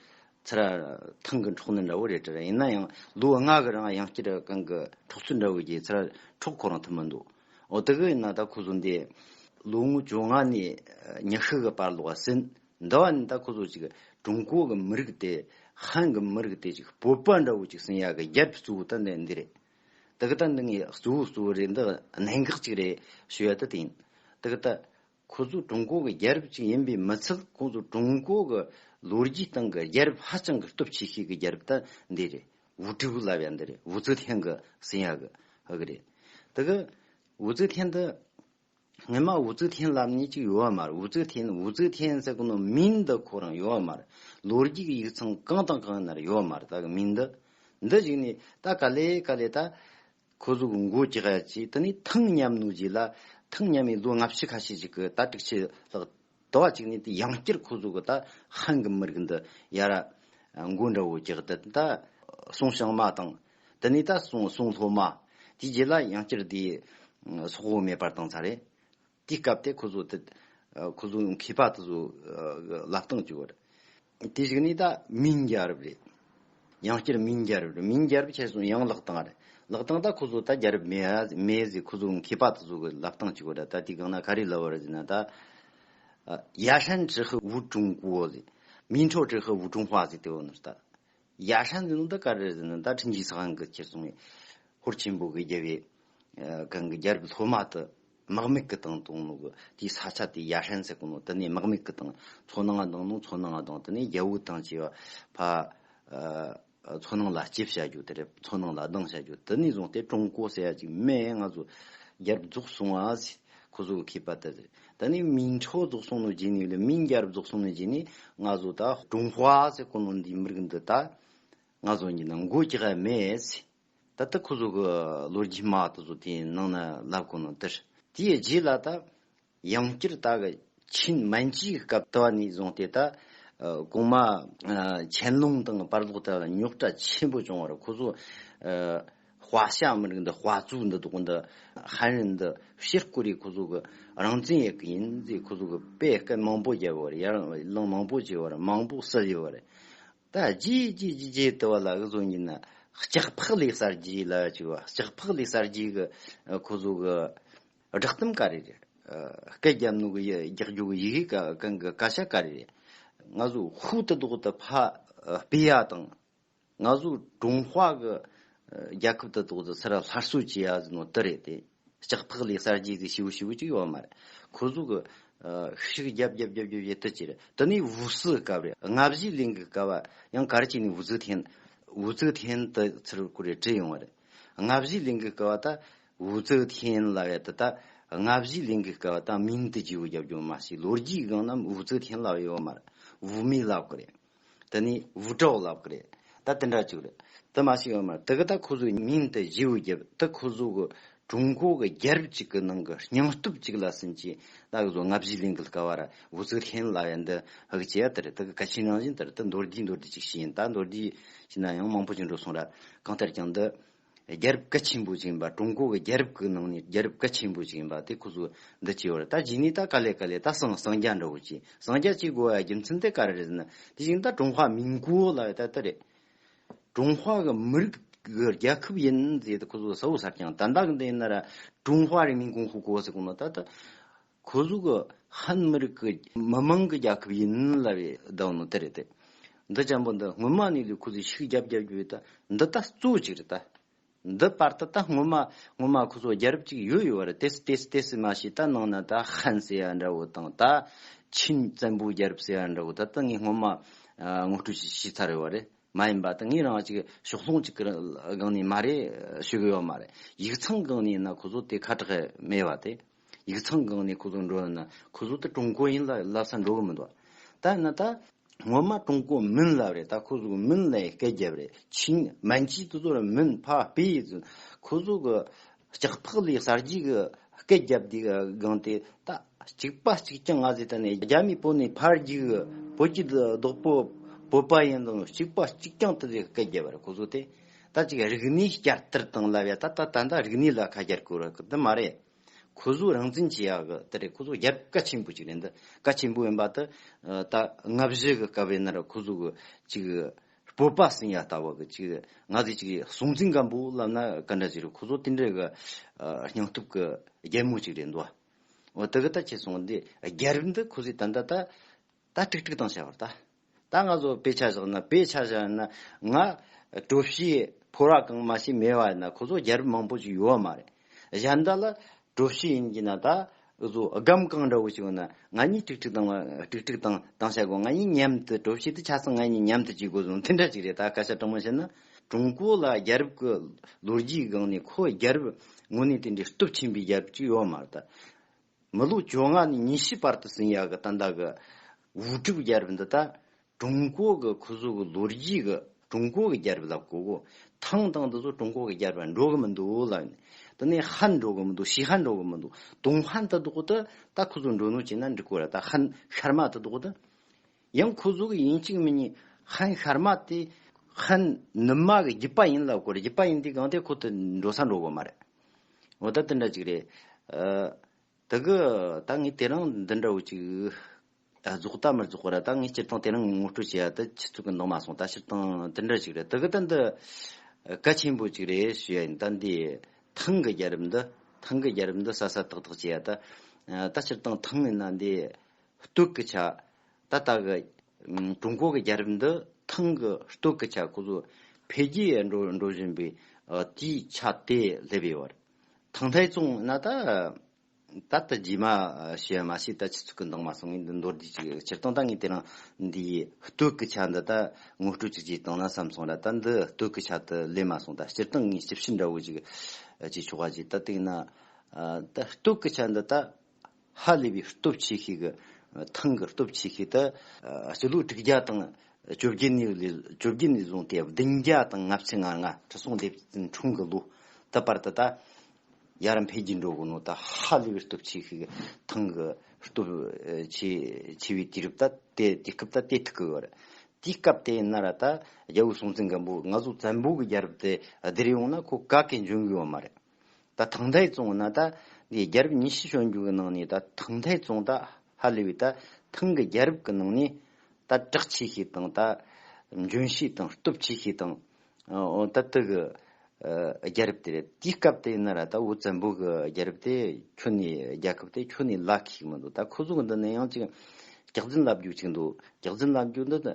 Speaker 1: ཚེ་ར་ཐང་གི་འཕྲོག་ནུས་འདྲ་བོ་རེད་དྲན། ཡིན་ན་ཡང་ལུས་ཨ་ངག་གི་རང་ཡང་སྐྱིད་གང་གི་འཕྲོག་ཚུལ་འདྲ་བོ་གྱིས་ཚེ་ར་འཕྲོག་ཁོ་རང་ཐུབ་མི་འདུག་འོ་དེ་གི་ཡིན་ན་ད་ཁོ་ཚོ་འདི། ལོ་ངོ་བཅོ་ལྔ་ནས་ཉི་ཤུ་གི་བར་ལོག་ཟིན། འདི་བ་ནི་ད་ཁོ་ཚོ་ཅིག་ཀྲུང་གོ་གི་མི་རིགས་དེ་ཧན་གི་མི་རིགས་དེ་ཅིག་སྤོབས་པ་འདྲ་བོ་ཅིག་ཟིན་ཡག་གི་རྒྱབ་ཀྱི་གཙོ་བོ་ད་འདི་རེད། དེ་གི་ད་འདི་ངའི་གཙོ་བོ་གཙོ་བོ་རེད་འདི་གནད་འགག་ཅིག་རེད་ཞུ་ཡ་ད་དེ་ཡིན། དེ་གི་ད། ཁོ་ཚོ་ཀྲུང་གོ་གི་རྒྱལ་རབས་ཅིག་ཡིན་པའི་མི་ཚད་ཁོ་ཚོ་ཀྲུང་གོ་གི་ལོ་རྒྱུས་སྟེང་གི་རྒྱལ་རབས་ཧ་ཅང་གི་སྟོབས་ཆེ་ཤོས་ཀྱི་རྒྱལ་རབས་དེ་འདི་རེད། ཝུ་ཀྲི་ཝུ་ལབ་ཡ་འདི་རེད་ཝུ་ཙི་ཐན་གི་སྲིང་ཡ་གི་ཨ་གི་རེད། དེ་གི་ཝུ་ཙི་ཐན་འདི་ངེད་མ་ཝུ་ཙི་ཐན་ལབ་ནས་ཅིག་ཡོད་བ་མ་རེད་ཝུ་ཙི་ཐན་ཝུ་ཙི་ཐན་ཟེར་གི་ནོ་མིང་འདི་ཁོ་རང་ཡོད་བ་མ་རེད་ལོ་རྒྱུས་ཀྱི་ཡིག་ཚང་གང་དང་གང་ཡི་ན་རེ་ཡོད་བ་མ་རེད་ད་གི་མིང་འདི་འདི་གཞིགས་ནས་ད་ག་ལེ་ག་ལེ་ད་ཁོ་གཟུགས་མགོ་ལྕགས་བཅས་དེ་ནས་ཐང་མཉམ་ནོ་རྗེས་ལ་ཐང་མཉམ་མའི་ལོ་ལྔ་བཅུ་ཁ་ཤས་ཤིག་གི་ད་དྲུག་ཕྱི་ལྷག་དུ་བ་གཅིག་ནས་དེ་ཡང་བསྐྱར་ཁོ་གཟུགས་ད་ཧང་གི་མི་རིགས་འདི་ཡ་ར་མགོ་འདྲ་བོ་ལྕགས་དེ་ད་སོང་ཞང་མ་དང་དེ་ནས་ད་སོང་སོང་ལྷོ་མ་དེའི་རྗེས་ལ་ཡང་བསྐྱར་དེའི་སོག་བོ་མེད་པར་བཏང་ཚར་རེད་དེའི་སྐབས་དེ་ཁོ་ཚོ་དེ། ཁོ་ཚོ་ཡང་མཁས་པ་དེ་ཚོ་ལབ་སྟངས་བཅུག་པ་རེད། དེ་ཞིག་ནི་ད་མིང་རྒྱལ་རབས་རེད། ཡང་བསྐྱར་མིང་རྒྱལ་རབས་རེད། མིང་རྒྱལ་རབས་ཆད་སོང་ཡང་ལག་སྟངས་རེད། ལག་སྟངས་ད་ཁོ་ཚོ་ད་རྒྱལ་རབས་མེད་ཟེར་ཁོ་ཚོ་མཁས་པ་དེ་ཚོ་གི་ལབ་སྟངས་བཅུག་པ་རེད་ད་དེ་གང་ན་ག་རེ་ལབ་པ་རེད་ཟེར་ན་ད། ཡ་ཧྲན་ཀྲི་ཧི་ཝུ་ཀྲུང་གོ་ཟེར། མིན་ཁྲོ་ཀྲི་ཧི་ཝུ་ཀྲུང་བྷ་ཟེར་དེ་འོ་ན་ད། རྒྱ་ཧྲན་འདི་ནི་ད་ག་རེ་ཟེར་ན་ད་ཁྲིན་ཆིག་ས་ཁང་གི་ཁྱེར་སོང་བའི་ཧོར་ཆེན་པོ་གི་རྒྱལ་བའི་གང་གི་རྒྱལ་གྱི་ལྷོ་མ་དུ་དམག་མིག་གི་དང་དུང་ནུ་གི་དེའི་ས་ཆ་དེ་རྒྱ་ཧྲན་ཟེར་གི་ནོ་དེ་ནས་དམག་མིག་གི་དང་མཚོ་ནང་ང་དང་ནོ་མཚོ་ནང་ང་དང་དེ་ནས་རྒྱ་བོའི་དང་བཅས་པ་ཕ་མཚོ་ནང་ལ་སྐྱིབས་བྱ་རྒྱུ་དེ་རེད་མཚོ་ནང་ལ་སྡང་བྱ་རྒྱུ་དེ་ནས་བཟུང་སྟེ་ཀྲུང་གོ་ཟེར་ཡ་ཅིག་མེད་ཡ་ང་ཚོ་རྒྱལ་གྱི་རྫོགས་སོང་བ་ཟེར་ཁོ་ཚོ་གི་མཁས་པ་དེ་རེད་ད་ནི་མིང་འཁྲུགས་རྫོགས་སོང་ནོ་རྗེས་ནི་ལ་མིང་རྒྱལ་རབས་རྫོགས་སོང་ནོ་རྗེས་ནི་སྔ་བཟོ་ད། ཀྲུང་ཧྭ་ཟེར་དཀོན་ནོ་འདི་མི་རིགས་འདི་ད། སྔ་བཟོ་གཉིས་ནང་འགོ་ཀྱི་ཧའི་མེད་ཟེ། ད་ལྟ་ཁོ་བཟོ་གི་ལོ་རྒྱུས་མ་ད་བཟོ་དེ་ནང་ན་ལབ་དཀོན་ནོ་དེར། དེའི་རྗེས་ལ་ད། ཡང་བསྐྱར་ད་གི་ཆིན་མན་ཅིའི་སྐབས་ད་བ་ནི་བཟུང་སྟེ་ད། གོང་མ། ཆན་ལུང་དང་པར་ལོག་ད་ལ་རྙོག་དྲ་ཆེན་པོ་བྱུང་བར་ཁོ་བཟོ། བྷ་ཤ་མི་རིགས་འདི་བྷ་ཛུ་འདི་དོག་འདི་ཧན་རིན་འདི་ཕྱིར་བསྐོར་རིགས་ཁོ་ཚོ་གི་རང་བཙན་ཡག་གི་ཡིན་ཟེར་ཁོ་ཚོ་གི་དཔེ་སྐད་མང་པོ་རྒྱབ་བར་ཡར་ལངས་མང་པོ་བྱེད་བར་མང་པོ་བསད་ཡོད་བར། ད་རྗེས་རྗེས་ཀྱི་རྗེས་དེ་བ་ལ་གི་བཟོ་ཉིན་ན་ལྕགས་ཕག་ལས་གསར་བརྗེའི་ལ་ཅིག་བ་ལྕགས་ཕག་ལས་གསར་བརྗེའི་གི་ཁོ་ཚོ་གི་བསྒྲགས་གཏམ་ག་རེ་རེད་སྐད་རྒྱབ་ནུ་གི་རྒྱག་རྒྱུ་གི་ཡི་གེ་ག་གང་གི་སྐད་ཆ་ག་རེ་རེད་ང་ཚོ་ཧུ་དི་དོག་དི་བྷ་སྤེ་ཡ་དང། ང་ཚོ་ཀྲུང་ཧྭ་གི་རྒྱལ་ཁབ་དུ་གཏོགས་ཀྱི་སར་སླར་གསོ་བྱས་ཡ་ཟི་ནོ་དི་རེད་དེ། ལྕགས་ཐག་ལས་གསར་བརྗེ་གི་བྱེའུ་བྱེའུ་གཅིག་ཡོད་མ་རེད། ཁོ་ཚོ་གི་ཧི་ཧྲིག་རྒྱབ་རྒྱབ་རྒྱབ་རྒྱབ་བྱེད་དུ་ཅི་རེད། དེ་ནི་བོད་སི་སྐབས་རེད། ལྔ་བཞི་གླིང་གི་སྐབས་ཡང་གར་བྱས་ནས་བོད་སི་ཐན། བོད་སི་ཐན་དུ་ཚུར་ཀུ་རེ་བྲིས་ཡོང་བ་རེད། ལྔ་བཞི་གླིང་གི་སྐབས་ད་བོད་སི་ཐན་ལ་ཡོད་དེ་ད་ལྔ་བཞི་གླིང་གི་སྐབས་ད་མིང་དུ་བྱེའུ་རྒྱབ་རྒྱུ་མ་བྱས་ལོ་རྒྱུས་སྒང་ན་བོད་སི་ཐན་ལ་ཡོད་མ་རེད། བོད་མི་ལ་ཀུ་རེ། དེ་ནས་བུ་གྲོགས་ལབ་གི་རེད་ད་དེ་འདྲ་ཅིག་རེད་དེ་མ་ཤེས་ཡོད་མ་རེད་དེ་གི་ད་ཁོ་ཚོའི་མིང་དེ་བཞི་བོ་བརྒྱབ་དེ་ཁོ་ཚོ་གི་ཀྲུང་གོ་གི་རྒྱལ་རབས་ཅིག་གི་ནང་གི་སྙིང་སྟོབས་ཅིག་ལ་ཟིན་གྱིས་ད་གི་ཚོ་ལྔ་བཞི་གླིང་གི་ལ་ཀ་བ་ར་བུ་ཚིག་ལྷེན་གླ་ཡ་འདི་ཧག་ཅེ་ཡ་དེ་རེད་དེ་གི་ག་ཕྱི་ནང་བཞིན་དེ་རེད་དེ་མདོར་བསྡུས་མདོར་བསྡུས་ཅིག་བྱས་ཡིན་ད་མདོར་བསྡུས་བྱས་ན་ཡང་མང་པོ་ཅིག་འགྲོ་སོང་ར་གང་ལྟར་ཀྱང་འདི། རྒྱལ་རབས་གལ་ཆེན་པོ་ཞིག་ཡིན་པ་ཀྲུང་གོ་གི་རྒྱལ་རབས་ཀྱི་ནང་ནས་རྒྱལ་རབས་གལ་ཆེན་པོ་ཞིག་ཡིན་པ་དེ་ཁོ་ཚོས་འདི་བྱས་ཡོད་རེད་ད་གཞི་ནས་ད་ག་ལེ་ག་ལེ་ད་སངས་སངས་རྒྱ་འདྲ་བོ་བྱས་སངས་རྒྱ་བྱས་དགོས་པའི་རྒྱུ་མཚན་དེ་ག་རེ་རེད་ཟེར་ན་དེ་བཞིན་ད་ཀྲུང་ཧྭ་མིན་གོ་ལ་ཡོད་ད་ལྟ་རེད། ཀྲུང་ཧྭ་གི་མི་རིགས་ཀྱི་རྒྱལ་ཁབ་ཡིན་ཟེར་ཏེ་ཁོ་ཚོས་ཟ་བོ་ཟ་རྐྱང་ད་འདང་གི་འདི་ཡིན་ན་ར་ཀྲུང་ཧྭ་རིང་མིན་གོང་ཧུ་གོ་ཟེར་གོང་ན་ད་ད། ཁོ་གཟུགས་ཧན་མི་རིགས་ཀྱི་མི་མང་གི་རྒྱལ་ཁབ་ཡིན་སླ་བའི་གདོན་ནི་དེ་རེད་དེ། འདི་ཅན་པོ་འདི་སྔོན་མ་ནས་ལས་ཁོ་ཚོས་ཤུགས་རྒྱབ་རྒྱབ་རྒྱུ་ཡོད་དེ་འདི་ད་གཙོ་གཅིག་རེད་དེ། འདི་པར་ད་ད་སྔོན་མ་སྔོན་མ་ཁོ་ཚོ་རྒྱལ་རབས་གཅིག་ཡོད་ཡོད་བར་དེ་སྲིད་དེ་སྲིད་དེ་སྲིད་མ་ཤེས་ད་ནང་ན་ད་ཧན་ཟེར་བ་འདྲ་བོ་དང་ད་ཆིན་བཙན་པོའི་རྒྱལ་རབས་ཟེར་བ་འདྲ་བོ་ད་ད་ངས་སྔོན་མ་ངོ་སྤྲོད་བྱས་བྱས་ཚར་ཡོད་བ་རེད་མ་ཡིན་པ་ད་ངས་རང་གཅིག་ཕྱོགས་ལྷུང་གཅིག་གི་སྒང་ནས་མ་རེད་ཤོད་གི་ཡོད་མ་རེད་ཡིག་ཚང་སྒང་ནས་ཡིན་ན་ཁོ་ཚོ་དེ་ཁ་གྲགས་མེད་བ་དེ། ཡིག་ཚང་གང་ནས་ཁོ་ཚོ་འགྲོ་ཡོང་ན་ཁོ་ཚོ་ད་ཀྲུང་གོ་ཡིན་ལ་ལབ་ས་འགྲོ་གི་མི་འདུག་ད་ཡིན་ན་ད། ངོ་མ་ཀྲུང་གོ་མིན་ལབ་རེད་ད་ཁོ་ཚོ་གི་མིན་ལ་ཡང་སྐད་རྒྱབ་རེད་ཆིན་མན་གྱིས་དེ་ཚོ་ར་མིན་ཕ་སྤེ་ཡིན་ཚུལ་ཁོ་ཚོ་གི་ལྕགས་ཐག་ལས་གསར་བརྗེ་གི་སྐད་རྒྱབ་དེ་སྒང་དེ་ད་གཅིག་པ་གཅིག་རྐྱང་ང་ཚོས་ད་ནས་རྒྱ་མིའི་པོ་ནས་ཕར་རྒྱུག་གི་བོད་ཀྱི་བདག་པོ་བོད་པ་ཡིན་དང་གཅིག་པ་གཅིག་རྐྱང་དེ་ཚོས་སྐད་རྒྱབ་རེད་ཁོ་ཚོ་དེ། ད་ཅིག་རིག་གནས་བསྐྱར་དར་བཏང་སླ་བས་ད་ད་ད་རིག་གནས་ལ་ཁ་སྐྱར་དགོས་ར་འདི་མ་རེད། ཁོ་གཟུགས་རང་བཙན་བྱེད་ཡག་གི་དེ་རེད་ཁོ་གཟུགས་རྒྱབ་ཀ་ཆེན་པོ་ཅིག་རེད་འདི་ཀ་ཆེན་པོ་ཡིན་པ་དེ་ད་ལྔ་བཞི་གི་སྐབས་ཡིན་ན་ར་ཁོ་གཟུགས་གི་ཅིག་སྤོབས་པ་ཟིན་ཡ་ལྟ་བུ་གི་ཅིག་ང་ཚོས་ཅིག་གཟུང་འཛིན་སྐམ་པོ་ལབ་ན་ག་འདྲ་ཅིག་རེད་ཁོ་གཟུགས་དེ་འདྲ་གི་སྙིང་སྟོབས་གི་རྒྱལ་མོ་ཅིག་རེད་འདུག་བ་དེ་གི་ད་ཁྱེད་གསུངས་འདི་རྒྱལ་རབས་འདི་ཁོ་གཟུགས་ད་ད་ད་ད་ཀྲིག་ཀྲིག་དང་བྱ་བར་ད། ད་ང་ཚོ་དཔེ་ཆ་བཞག་ན་དཔེ་ཆ་བཞག་ན་ང། བྲོ་བྱའི་ཕོ་རག་གང་མ་ཞིག་མེད་བ་ཡིན་ན་ཁོ་ཚོ་རྒྱལ་རབས་མང་པོ་ཞིག་ཡོད་བ་མ་རེད། གཞན་དག་ལ། བྲོ་བྱ་ཡིན་གྱི་ན་ད། ཨུ་ཚོ་སྒམ་གང་འདྲ་བོ་ཞིག་ཡོད་ན་ང་གཉིས་ཀྲིག་ཀྲིག་དང། ཀྲིག་ཀྲིག་དང་དང་བྱ་དགོས་ང་གཉིས་མཉམ་དུ་བྲོ་བྱས་ཏེ་ཆ་ཚང་ང་གཉིས་མཉམ་དུ་བྱེད་དགོས་སོང་དེ་འདྲ་ཞིག་རེད་ད་སྐད་ཆ་དྲང་མོ་བཤད་ན། ཀྲུང་གོ་ལ་རྒྱལ་རབས་ཀྱི་ལོ་རྒྱུས་སྒང་ནས་ཁོ་རྒྱལ་རབས་དངོས་གནས་དེ་འདྲའི་སྟོབས་ཆེན་པོའི་རྒྱལ་རབས་ཅིག་ཡོད་བ་མ་རེད། མི་ལོ་བཅོ་ལྔ་ནས་ཉི་ཤུའི་བར་དུ་སིང་ཡ་གི་ཏན་ཏཱ་གི་དབུས་གྲུབ་རྒྱལ་རབས་འདི་དག་ཀྲུང་གོ་གི་ཁུ་བཟོ་གི་ལོ་རྒྱུས་ཀྱི་ཀྲུང་གོ་གི་རྒྱལ་རབས་ལ་གོ་དགོས། ཐང་ཐང་འདི་ཚོ་ཀྲུང་གོ་གི་རྒྱལ་རབས་ལ་འགྲོ་གི་མི་འདུག་ལབ་ནས། དེ་ནས་ཧ་འགྲོ་གི་མི་འདུག་ཤི་ཧ་འགྲོ་གི་མི་འདུག་དུང་ཧ་འདི་དག་ཏུ་ད་ཁུ་བཟོ་འགྲོ་ནུ་བྱས་ན་འགྲིག་གོ་ར་ད་ཧ་ཤར་མ་དེ་དག་ཏུ། ཡང་ཁུ་བཟོ་གི་ཡིན་གཅིག་མིན་གཉིས་ཧ་ཤར་མ་དེ་ཧ་ནུབ་མ་གི་རྒྱུད་པ་ཡིན་ལབ་གོ་ར་རྒྱུད་པ་ཡིན་དུས་གང་ཐད་ཁུ་དེ་འགྲོ་ས་འགྲོ་གི་མ་རེད། འོ་ད་འདི་འདྲ་ཅིག་རེད། ད་གི་ད་ངས་དེ་རིང་འདི་འདྲ་བོ་ཅིག་རྫོགས་ད་མི་རྫོགས་ར་ད་ངས་སྤྱིར་བཏང་དེ་རིང་ངོ་སྤྲོད་བྱས་ཡ་ད་ཁྱི་ཚུགས་ཀྱི་འདང་མ་སོང་ད་སྤྱིར་བཏང་འདི་འདྲ་ཅིག་རེད་ད་གི་ད་འདི་གལ་ཆེན་པོ་ཅིག་རེད་ཞུ་ཡ་ཡིན་ད་འདི་ཐང་གི་རྒྱལ་རབས་འདི་ཐང་གི་རྒྱལ་རབས་འདི་ས་ས་ཐག་ཐག་བྱས་ཡ་ད་ད་སྤྱིར་བཏང་ཐང་ཡིན་ན་འདི་སྟོད་ཀྱི་ཆ་ད་ལྟ་གི་ཀྲུང་གོ་གི་རྒྱལ་རབས་འདི་ཐེངས་གི་སྟོད་ཀྱི་ཆ་ཀུ་ཟུར་འཕེལ་རྒྱས་འགྲོ་འགྲོ་བཞིན་པའི་དུས་ཆ་དེ་སླེབས་ཡོད་པར། ཐང་ཐའི་ཙུང་ན་ད་ད་ལྟ་རྗེས་མ་ཞེས་པ་མ་ཤེས་ད་ཕྱི་ཚུལ་གྱི་མདོག་མ་སོང་ངས་འདི་མདོར་བསྡུས་ཅིག་ཕྱིར་བཏང་ད་ངས་དེ་རིང་འདིའི་སྟོད་ཀྱི་ཆ་འདི་ད་ངོ་སྤྲོད་ཅིག་ཅེས་བཏང་ན་བསམ་སོང་ལ་ད་འདི་སྟོད་ཀྱི་ཆ་དེ་སླེབས་མ་སོང་ད་སྤྱིར་བཏང་ངས་ཞིབ་བཤེར་འདྲ་བོ་ཅིག་བྱས་ཆོག་ག་ཅིག་ད་བལྟས་ན། ད་སྟོད་ཀྱི་ཆ་འདི་ད་ཧ་ལས་པའི་སྟོབས་ཆེ་ཤོས་ཀྱི་ཐང་གི་སྟོབས་ཆེ་ཤོས་དེ་སྤྱི་ལོའི་དྲུག་བརྒྱ་དང་བཅོ་བརྒྱད་ནས་བཟུང་སྟེ་བདུན་བརྒྱ་དང་ལྔ་བཅུ་ང་ལྔ་ཁྲི་སྲོང་ལྡེ་བཙན་འཁྲུངས་ཀྱི་ལོ་དེ་བར་དུ་ད་ཡར་འཕེལ་རྒྱས་འགྲོ་གི་ནང་དུ་ཧ་ལས་པའི་སྟོབས་ཆེ་ཤོས་ཀྱི་ཐང་གི་སྟོབས་ཆེ་བའི་དུས་རབས་དེ་དེ་སྐབས་ད་དེ་ཐུག་གི་ཡོད་རེད། དེའི་སྐབས་དེ་ན་ར་ད་རྒྱལ་བོ་སྲོང་བཙན་སྒམ་པོས་ང་ཚོ་བཙན་པོ་གྱི་རྒྱལ་རབས་དེ་བསྡུར་ཡོང་ན་ཁོ་དགའ་སྐད་འབྱུང་གི་ཡོད་མ་རེད། ད་ཐང་ཐའི་ཙུང་ན་ད་གི་རྒྱལ་རབས་ཉི་ཤུ་བྱོན་རྒྱུ་གི་ནང་ནས་ད་ཐང་ཐའི་ཙུང་ད་ཧ་ལི་བའི་ད་ཐང་གི་རྒྱལ་རབས་ཀི་ནང་ནས་ད་དྲག་ཆེ་ཤོས་དང་ད་འཇོན་ཤོས་དང་སྟོབས་ཆེ་ཤོས་དང་ད་དི་གི་རྒྱལ་རབས་དེ་རེད་དེའི་སྐབས་དེ་ན་ར་ད་བོད་བཙན་པོ་གི་རྒྱལ་རབས་དེ་ཁྱོད་ནས་རྒྱལ་ཁབ་དེ་ཁྱོད་ནས་ལག་ཤིག་མི་འདུག་ད་ཁོ་ཚོ་གི་འདི་ནས་ཡང་ཅིག་རྒྱག་རྫུན་ལབ་རྒྱུ་ཅིག་འདུག་རྒྱག་རྫུན་ལབ་རྒྱུ་འདི་ད་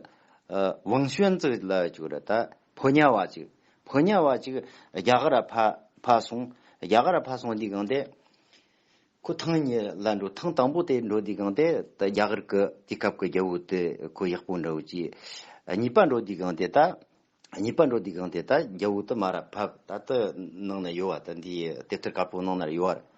Speaker 1: ཝང་ཞོན་ཙི་ལབ་རྒྱུ་རེད་ད། ཕོ་ཉ་བ་ཅིག། ཕོ་ཉ་བ་ཅིག། རྒྱ་གར་ཕ། ཕ་སོང། རྒྱ་གར་ཕ་སོང་འདི་གང་དེ། ཁོ་ཐང་ཉི་ལ་འགྲོ་ཐང་དང་པོ་དེ་འགྲོ་འདི་གང་དེ། ད་རྒྱ་གར་ཀི་དེ་སྐབས་ཀི་རྒྱ་བོ་དེ་ཁོ་ཡག་པོ་འདྲའོ་ཅི། གཉིས་པ་འགྲོ་འདི་གང་དེ་ད། གཉིས་པ་འགྲོ་འདི་གང་དེ་ད་རྒྱ་བོ་དེ་མ་ར་ཕབ་ད་དེ་ནང་ན་ཡོད་བ་ད་འདི་དེབ་ཐེར་དཀར་པོ་ནང་ན་ཡོད་བར།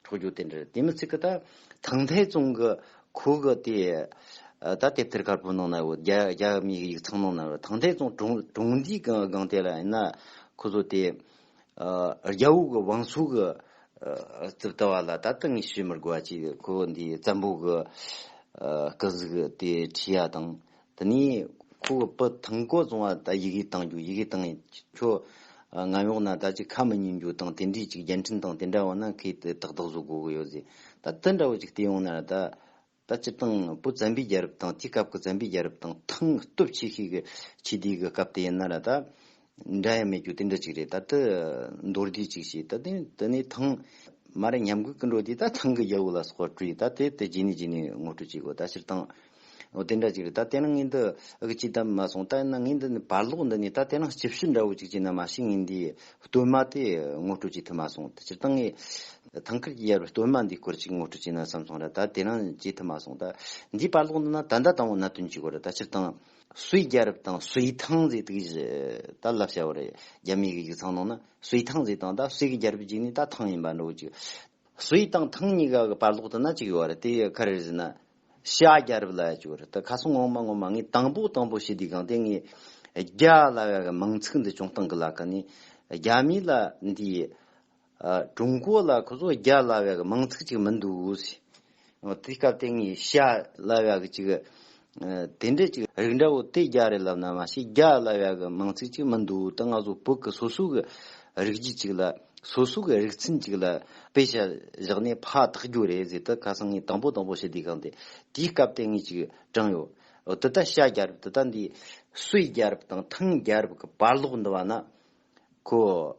Speaker 1: འཕྲོག་རྒྱུག་དེ་འདྲར་དེ་མི་ཚིག་གི་ད། ཐང་ཐའི་ཙུང་གི་ཁུ་གི་དེ། ད་དེབ་ཐེར་དཀར་པོའི་ནང་ན་ཡོད་རྒྱ་མིའི་ཡིག་ཚང་ནང་ན་ཡོད་ཐང་ཐའི་ཙུང་གྲོང་སྡེའི་སྒང་དེ་ལ་ཡིན་ན། ཁོ་ཚོ་དེ། རྒྱ་བོད་ཀྱི་བང་སོ་གི། རྩིབ་ལྟ་བ་ལ་ད་ལྟ་ངས་བཤད་མི་དགོས་པ་གཅིག་ཁོ་འདིའི་བཙན་པོ་གི། སྐུ་གཟུགས་དེ་ཁྲིད་ཡ་དང། ད་ནི་ཁོ་གི་པུ་ཐང་ཀོ་རྫོང་བ་ད་ཡི་གེ་བཏང་རྒྱུ་ཡི་གེ་བཏང་ཡིན་ཁྱོད་ང་ཡོང་ན་ད་ཅིག་ཁ་མི་ཉིན་རྒྱུ་དང་དེ་འདྲིས་ཅིག་རྒྱལ་འཕྲིན་དང་དེ་འདྲ་བ་ན་ཁོས་དེ་ཏག་ཏག་བཟོ་དགོས་གི་ཡོད་ཟེར་ད་དེ་འདྲ་བ་ཅིག་བལྟས་ཡོང་ན་ད་ད་སྤྱི་བཏང་པུ་ཛམ་བི་རྒྱལ་རབས་དང་དེའི་སྐབས་ཀྱི་ཛམ་བི་རྒྱལ་རབས་དང་ཐང་སྟོབས་ཆེ་ཤོས་ཀྱི་ཆིས་དེའི་གི་སྐབས་དེ་ཡིན་ན་ད་འདྲ་ཡང་མེད་རྒྱུ་དེ་འདྲ་ཅིག་རེད་ད་ལྟ་མདོར་བསྡུས་ཅིག་བྱས་ད་དེ་ནི་ནི་ཐང། མ་རེད་ཉམས་གུད་ཀི་འགྲོ་དེ་ད་ཐང་གི་རྒྱལ་པོ་ལ་སོགས་པ་བཀྲུས་ད་དེ་དེ་རྗེས་ནས་རྗེས་ནས་ངོ་སྤྲོད་བྱེད་དགོས་ད་ཕྱིར་བཏང། འོ་དེ་འདྲ་ཅིག་རེད་ད་དེ་ན་ངའི་འདི་ཨ་ཁུ་ཅི་ལྟ་མ་སོང་ལྟ་ན་ངའི་འདི་ནི་བར་ལོག་འདི་ནི་ད་དེ་ན་སྤྱི་བཤུ་འདྲ་བོ་ཅིག་བྱས་ན་མ་ཤི་ངའི་འདི་སྟོད་མ་དེ་ངོ་སྤྲོད་བྱེད་ཐུབ་མ་སོང་ད་ཕྱིར་བཏང་ངས། ཐང་ཁུལ་གྱི་ཡར་བའི་སྟོད་མ་འདི་སྐོར་ཅིག་ངོ་སྤྲོད་བྱས་ན་བསམ་སོང་ར་ད་དེ་ན་བྱེད་ཐུབ་མ་སོང་ད། འདིའི་བར་ལོག་འདི་ན་ད་ཟླ་དང་བོ་ན་དོན་གྱི་གོ་ར་ད་ཕྱིར་བཏང། སུའི་རྒྱལ་རབས་དང་སུའི་ཐང་ཟིག་དུག་གཞི་ད་བསླབ་བྱ་བར་རྒྱ་མིའི་གཞུག་ཚང་ནང་ན་སུའི་ཐང་ཟིག་དང་ད་སུའི་གི་རྒྱལ་རབས་གཅིག་ནི་ད་ཐང་ཡིན་པ་འགྲོ་གཅིག་སུའི་དང་ཐང་གཉིས་ཀ་གི་བར་ལོག་དུ་ན་གཅིག་ཡོད་རེད་དེ་ཁ་རེ་བཟི་ན་ཤ་རྒྱལ་རབས་ལ་བཅུག་རེད་ད་ཁ་སང་ངོ་མ་ངོ་མ་ངས་དང་པོ་དང་པོ་ཤེས་དུས་གང་དེ་ངས་རྒྱ་ལ་བ་གི་མིང་ཚིག་འདི་ཅུང་སྟང་གི་ལ་ཀ་ནས་རྒྱ་མི་ལ་འདིའི་ཀྲུང་གོ་ལ་ཁོ་ཚོ་རྒྱ་སླ་བའི་གི་མང་ཚིག་ཅིག་མི་འདུག། དེ་སྐབས་དེ་ངས་ཤ་སླ་བའི་གི་ཅིག་དེ་འདྲ་ཅིག་རིགས་འདྲ་བོ་དེ་རྒྱ་རེད་ལབ་ན་མ་ཤེས་རྒྱ་སླ་བའི་གི་མང་ཚིག་ཅིག་མི་འདུག་ད་ང་ཚོ་བོད་གི་སོ་སོ་གི་རིགས་རྒྱུད་ཅིག་ལ་སོ་སོ་གི་རིགས་ཚན་ཅིག་ལ་དཔེ་ཆ་བཞག་ནས་ཕ་དག་རྒྱུ་རེད་ཟེར་ད་ཁ་སང་ངས་དང་པོ་དང་པོ་ཞི་བདེ་ཁང་དེ་དེའི་སྐབས་དེ་ངས་ཅིག་དྲངས་ཡོད། འདི་ལྟ་ཤ་རྒྱ་རབས་འདི་ལྟ་འདི་སོས་རྒྱ་རབས་དང་ཐང་རྒྱ་རབས་གི་བར་ལོག་འདི་བ་ན་ཁོ།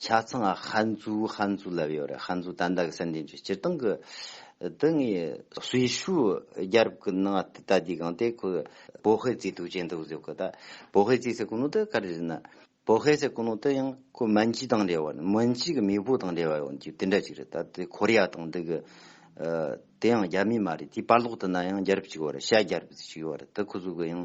Speaker 1: ཆ་ཚང་ཧན་རྫུའུ་ཧན་རྫུའུ་ལབ་ཡོད་རེད་ཧན་རྫུའུ་དན་ད་གི་སྲིད་འཛིན་ཆོས་སྤྱིར་བཏང་གི་དེ་ངའི་སྲི་ཞུ་རྒྱལ་རབས་ཀི་ནང་ད་ད་དུས་གང་དེ་ཁོ་བོ་ཧེ་ཙི་དུག་ཅན་དུ་བཟོས་གི་ད་བོ་ཧེ་ཙི་སེ་ཀུ་ནོ་དེ་ག་རེ་རེད་ན་བོ་ཧེ་སེ་ཀུ་ནོ་དེ་ཡང་ཁོ་མན་ཇི་དང་འབྲེལ་བ་མན་ཇི་གི་མེས་པོ་དང་འབྲེལ་བ་ཡོང་རྒྱུ་དེ་འདྲ་ཅིག་རེད་ད་དེ་ཁོ་རེ་ཡ་དང་འདི་གི་དེ་ཡང་རྒྱ་མི་མ་རེད་དེའི་པར་ལོག་དུ་ན་ཡང་རྒྱལ་རབས་ཅིག་ཡོད་རེད་ཤ་རྒྱལ་རབས་ཅིག་ཡོད་རེད་དེ་ཁོ་ཚོ་གི་ཡང་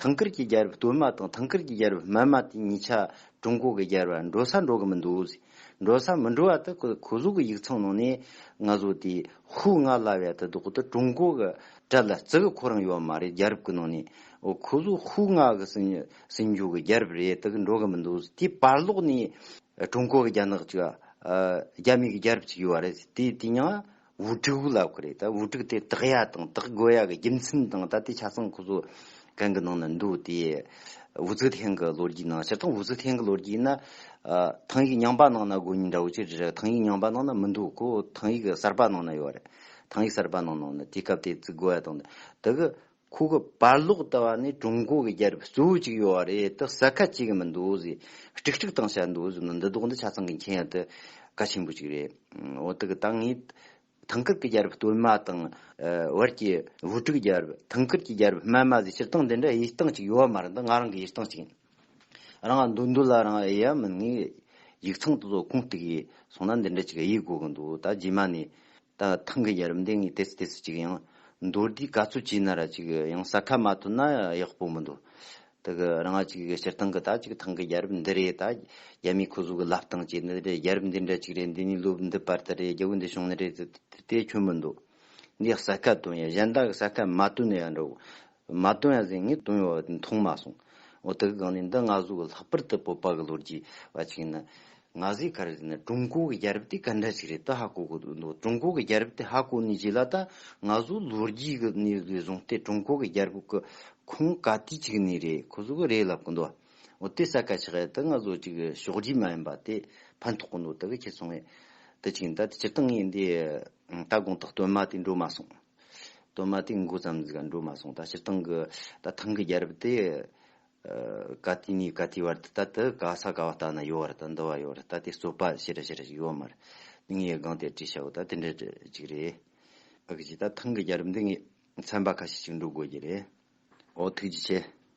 Speaker 1: ཐང་ཀར་གྱི་རྒྱལ་རབས་སྟོད་མ་དང་ཐང་ཀར་གྱི་རྒྱལ་རབས་སྨད་མ་དེ་གཉིས་ཆ་ཀྲུང་གོ་གི་རྒྱལ་རབས་ལ་འགྲོ་ས་འགྲོ་གི་མི་འདུག་ཟེར། འགྲོ་ས་མི་འགྲོ་བ་དེ་གོ་གཟུགས་ཀྱི་ཡིག་ཚང་ནང་ནས་ང་ཚོ་དེ་ཧུ་ང་ལ་བས་དེ་དོག་དེ་ཀྲུང་གོ་གི་གྲལ་ལ་བརྩི་གི་ཁོ་རང་ཡོད་མ་རེད་རྒྱལ་རབས་ཀྱི་ནང་ནས་གོ་གཟུགས་ཧུ་ང་གི་སྲིད་འབྱོར་གྱི་རྒྱལ་རབས་རེད་དེ་གི་འགྲོ་གི་མི་འདུག་ཟེར་དེའི་བར་ལོག་ནས་ཀྲུང་གོ་གི་རྒྱ་ནག་ཅིག་རྒྱ་མིའི་གི་རྒྱལ་རབས་ཅིག་ཡོད་རེད་ཟེར་དེ་དེ་ཡང་བུ་ཕྲུག་གླ་ཁོ་རེད་ད་བུ་ཕྲུག་དེ་དག་ཡ་དང་དག་དགོས་ཡ་གི་རྒྱུ་མཚན་དང་ད་ལྟའི་ཆ་ཚང་ཁོ་ཚོ་གང་གི་ནང་ན་འདུག་དེ་བུ་ཚོའི་ཐེངས་གི་ལོ་རྒྱུས་ནང་སྤྱིར་བཏང་བུ་ཚོའི་ཐེངས་གི་ལོ་རྒྱུས་ཡིན་ན་ཐང་ཡིག་རྙིང་པ་ནང་ན་དགོས་ཉིན་འདྲ་བོ་ཅིག་རེད་ཐང་ཡིག་རྙིང་པ་ནང་ན་མི་འདུག་གོ་ཐང་ཡིག་གསར་པ་ནང་ན་ཡོད་རེད་ཐང་ཡིག་གསར་པ་ནང་ན་དེ་སྐབས་དེ་བརྩི་དགོས་ཡ་དང་དེ་གི་ཁོ་གི་པར་ཀློག་ལྟ་བ་ནི་ཀྲུང་གོ་གི་རྒྱལ་རབས་གཙོ་བོ་གཅིག་ཡོད་བ་རེད་དེ་གསལ་ཁ་གཅིག་གི་མི་འདུག་ཟེར་དཀྲིག་དཀྲིག་བཏང་བྱས་འདུག་ཟེར་ན་འདི་དོགས་འདི་ཆ་ཚང་གི་མཁྱེན་ཡ་དེ་ག་ཆེན་པོ་གཅིག་རེད་འོ་དེ་གི་ད་ངས་ཐང་ཀར་གི་རྒྱལ་རབས་སྟོད་མ་དང་བར་གྱི་བུ་ཕྲུག་རྒྱལ་རབས་ཐང་ཀར་གྱི་རྒྱལ་རབས་སྨད་མ་ཟེར་སྤྱིར་བཏང་འདི་འདྲ་དབྱེ་སྟངས་གཅིག་ཡོད་བ་མ་རེད་འདི་ང་རང་གི་དབྱེ་སྟངས་གཅིག་ཡིན་རང་ག་འདུག་འདུག་ལ་རང་དབྱེ་ཡ་མིན་ངས་ཡིག་ཚང་དེ་ཚོ་ཁུངས་གཏུགས་ཡས་སོང་ན་འདི་འདྲ་གཅིག་དབྱེ་དགོས་གི་འདུག་ད་རྗེས་མ་ནས་དང་ཐང་གི་ཡར་འདེགས་ངས་དེ་སུ་དེ་སུ་ཅིག་ཡང་མདོར་བསྡུས་ག་ཚོད་བྱས་ན་ར་ཅིག་ཡང་ས་ཁ་མ་ཐོན་ན་ཡག་པོ་མི་འདུག་ད་གི་རང་ང་ཅིག་སྤྱིར་བཏང་གི་ད་ཅིག་ཐང་གི་ཡར་འདི་རེད་ད་རྒྱ་མིའི་ཁོ་ཟུག་གི་ལབ་སྟངས་ཀྱི་འདི་རེད་ཡར་འདི་འདྲ་ཅིག་རེད་འདི་ནས་ལོབ་འདི་པར་ད་རེད་རྒྱ་བོད་འདི་བྱུང་ན་རེད་དེ་ཁྱོད་མི་འདུག་འདིས་ས་ཁ་བཏོན་ཡ་གཞན་དག་གི་ས་ཁ་མ་བཏོན་ན་ཡག་འགྲོ་མ་བཏུང་ཡ་ཟེར་ངས་བཏུང་ཡོད་བ་མཐོང་མ་སོང། འོ་ད་གི་གང་ནས་འདི་ང་གཟུགས་ཀྱི་ལྷག་པར་དུ་སྤོབས་པ་གི་ལོ་རྒྱུས་བ་ཅིག་ཡིན་ན། ང་གཟིགས་ཁར་དེ་ནི་ཀྲུང་གོ་གི་རྒྱལ་རབས་དེ་ག་འདྲ་ཞིག་རེད་ད་ཧ་གོ་གི་འདུག་ཀྲུང་གོ་གི་རྒྱལ་རབས་དེ་ཧ་གོ་ནུས་ཀྱི་ལ་ད་ང་གཟུགས་ལོ་རྒྱུས་ཀྱི་གནས་ཚུལ་བཟུང་སྟེ་ཀྲུང་གོ་གི་རྒྱལ་རབས་ཀྱི་ཁུངས་ག་དུས་ཅིག་ནས་རེད་ཁོ་གཟུགས་རེད་ལབ་གི་འདུག་འོ་དེ་ས་ག་ཆག་ཡ་ད་ང་གཟུགས་ཅིག་ཕྱོགས་རྒྱུས་མ་ཡིན་པ་དེ་ཕན་ཐོག་གི་འདུག་ད་གི་ཁྱེད་སོང་ཡ་ད་ཅིག་ཡིན་ད་དེ་སྤྱིར་བཏང་ངས་འདི་ད་དགོངས་དག་བཏོན་མ་དེ་འགྲོ་མ་སོང། དོན་མ་ཏིག་མགོ་ཙམ་ཟིག་འགྲོ་མ་སོང་ད་སྤྱིར་བཏང་གི་ད་ཐང་གི་རྒྱལ་རབས་དེ་ག་དུས་ནས་ག་དུས་བར་དུ་ད་དུ་ག་ས་ག་བ་ལྟ་ན་ཡོད་བར་དུ་འདུལ་བ་ཡོད་བར་ད་དེ་རྩོད་པ་ཤི་ར་ཤི་ར་ཞིག་ཡོད་མ་རེད་ངའི་སྒང་དེར་དྲིས་བྱའོ་ད་དེ་འདྲ་ཅིག་རེད་ཨ་ཁུ་ཅིག་ད་ཐང་གི་རྒྱལ་རབས་འདི་ངས་ཚན་པ་ཁ་ཤས་ཅིག་འགྲོ་དགོས་ཀྱི་རེད་ཨོ་ཐུགས་རྗེ་ཆེ།